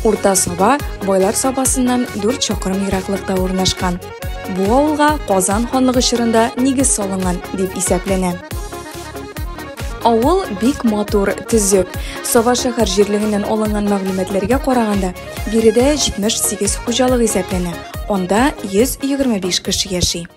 Урта Саба Байлар Сабасыннан 4 чакрым ераклыкта урнашкан. Бу авылга Казан ханлыгы чорында нигез салынган дип исәпләнә. Авыл бик матур, төзек. Саба шәһәр җирлегеннән алынган мәгълүматларга караганда, биредә 78 хуҗалык исәпләнә. Анда 125 кеше яши.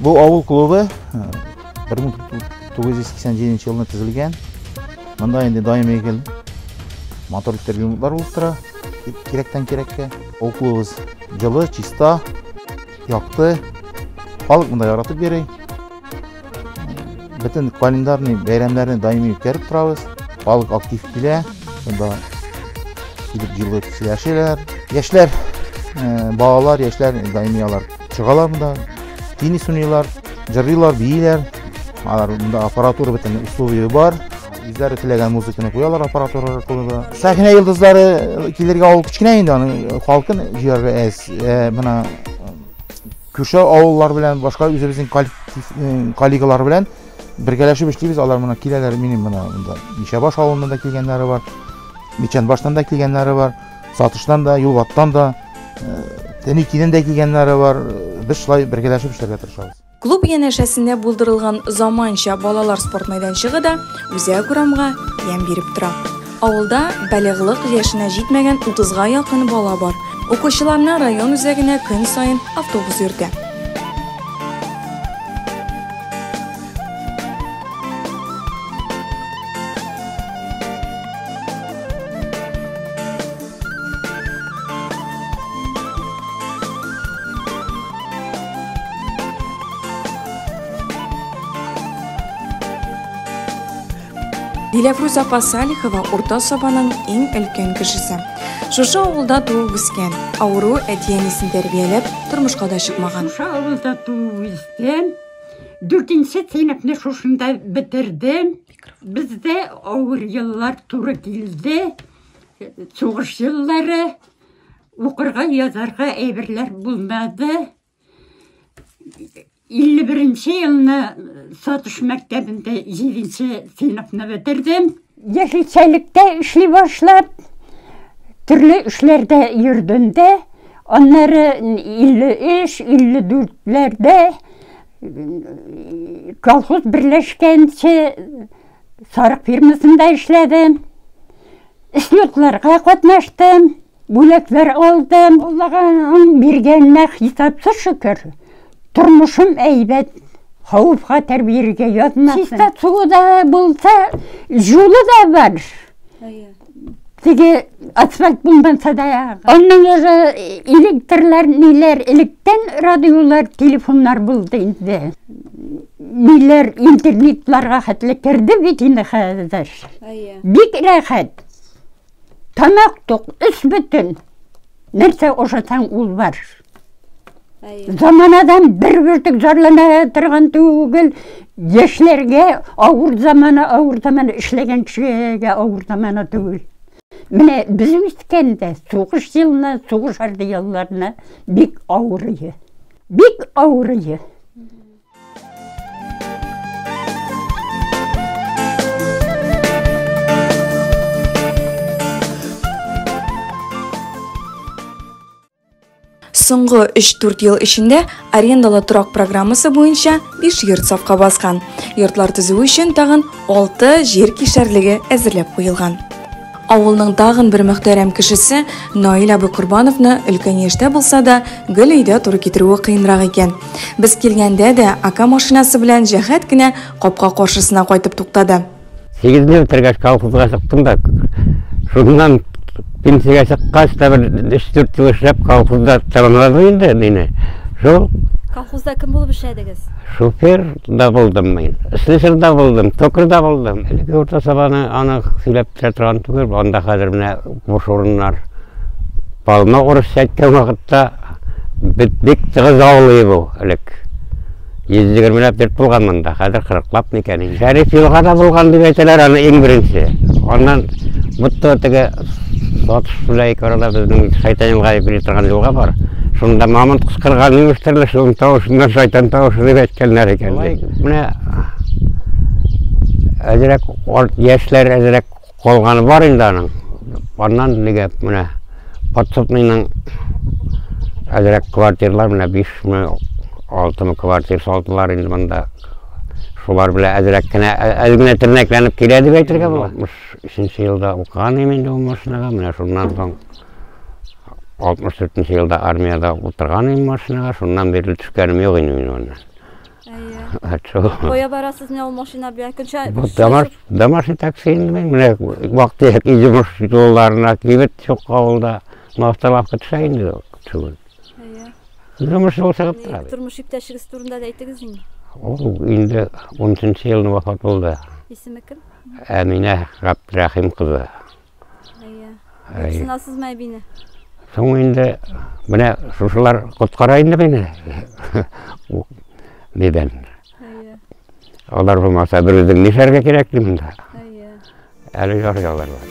Бу авыл клубы 1987 елны төзелгән. Монда инде даими гел моторлы трибунлар булып тора. Кирәктән кирәккә. Авыл клубыбыз җылы, чиста, якты. Халык монда яратып йөри. Бөтен календарный бәйрәмнәрне даими үткәреп торабыз. Халык актив килә. Монда килеп җылы сөйләшәләр. Яшьләр, балалар, яшьләр даими алар Чыгалар монда, теннис уйныйлар, җырлыйлар, бииләр. Алар монда аппаратура бөтен условия бар. Үзләре теләгән музыканы куялар аппаратура аркылы. Сәхнә йолдызлары э, килергә авыл кечкенә инде, аның э, халкын җыярга әз. Э, менә күрше авыллар белән, башка үзебезнең коллегалар белән бергәләшеп эшлибез. Алар менә киләләр, минем менә монда Мишәбаш авылыннан да килгәннәре бар, Мичәнбаштан да килгәннәре бар. Сатыштан да, юлбаттан да, тәни киден дә килгәннәре бар. Без шулай бергәләшеп эшләргә тырышабыз. Клуб янәшәсендә булдырылган заманча балалар спорт мәйданчыгы да үзәк урамга ямь биреп тора. Авылда балигълык яшенә җитмәгән 30га якын бала бар. Укучыларны район үзәгенә көн саен автобус йөртә. Диләфрүз апа Салихова урта сабаның иң өлкән кешесе. Шушы авылда туып үскән, авыру әти-әнисен тәрбияләп, тормышка да чыкмаган. Шушы авылда туып үскән, Дүртенче сыйныфны шушында бетердем. Бездә авыр еллар туры килде. Сугыш еллары укырга, язарга әйберләр булмады. 51 елны Сатыш мәктәбендә 7 сыйныфны бетердем. Яшелчәлектә эшли башлап, төрле эшләрдә йөрдем дә, аннары 53-54ләрдә колхоз берләшкәнче сарык фирмасында эшләдем. Эшлекләргә катнаштым. Бүләкләр алдым. Алланың биргәненә хисапсыз шөкер. Тормышым әйбәт. Хавыфка тәрбиергә язмасын. Чиста суы да булса, җулы да бар. Теге асфальт булмаса да. Аннан уже электрлар, ниләр, электән радиолар, телефоннар булды инде. Ниләр, интернетларга хәтле керде бит инде хәзер. Бик рәхәт. Тамак тук, өс бөтен. Нәрсә ошатаң ул бар. Заманадан бер бүртек зарлана торган түгел. Яшьләргә авыр замана, авыр замана эшләгән кешегә авыр замана түгел. Менә без үскәндә сугыш елына, сугыш арды елларына бик авыр иде. Бик авыр иде. Соңгы 3-4 ел эчендә арендалы торак программасы буенча 5 йорт сафка баскан. Йортлар төзү өчен тагын 6 җир кишәрлеге әзерләп куелган. Авылның тагын бер мөхтәрәм кешесе Наил абый Корбановны өлкән яшьтә булса да, гел өйдә туры китерүе кыенрак икән. Без килгәндә дә, ака машинасы белән җәһәт кенә капка каршысына кайтып туктады. Сигезне бетергәч, колхозга чыктым да, шуннан пенсиягә чыккач та бер өч-дүрт ел эшләп, колхозда тәмамладым инде мине. Шул. Колхозда кем булып эшләдегез? Шофер да булдым мин, слесарь да булдым, токарь да булдым. Әлеге урта сабаны аны сөйләп тә торган түгел, анда хәзер менә буш урыннар. Палма урыс әйткән вакытта бит бик тыгыз авылы бу элек. 120 лап дип булган монда, хәзер 40 лап микән. Шәриф елга да булган дип әйтәләр аны иң беренче. Аннан бутта теге Батыш белән ике арада безнең Шайтаенга дип йөри торган елга бар. Шунда мамонт кычкырган имеш төрле шуның тавышыннан шайтан тавышы дип әйткәннәр икән. Менә әзрәк яшьләр әзрәк калганы бар инде аның. Аннан нигә менә подсобныйның әзрәк квартирлар менә 5 мең 6 мең квартир салдылар инде монда. Шулар белән әзрәк кенә әз генә тернәкләнеп килә дип әйтергә була. Өченче елда укыган идем инде ул машинага, менә шуннан соң 64 елда армиядә утырган идем машинага, шуннан бирле төшкәнем юк инде мин моннан. Кая барасыз менә ул машина белән? Көнчә Дамаш, Дамаши такси инде мин менә вакыты як җимеш юлларына кибет чук авылда мавталавка төшә инде түгел. Җимеш юл чыгып тора. Тормыш иптәшегез турында да әйтегез инде. Ул инде 13 елны вафат булды. Исеме кем? Әминә Габдрәхим кызы. Әйе. Әйе. Сынасызмы әбине? Соң инде менә шушылар коткара инде мине. Дидән. Әйе. Алар булмаса, бер үзең нишәргә кирәк монда? Әйе. Әле ярый алар бар.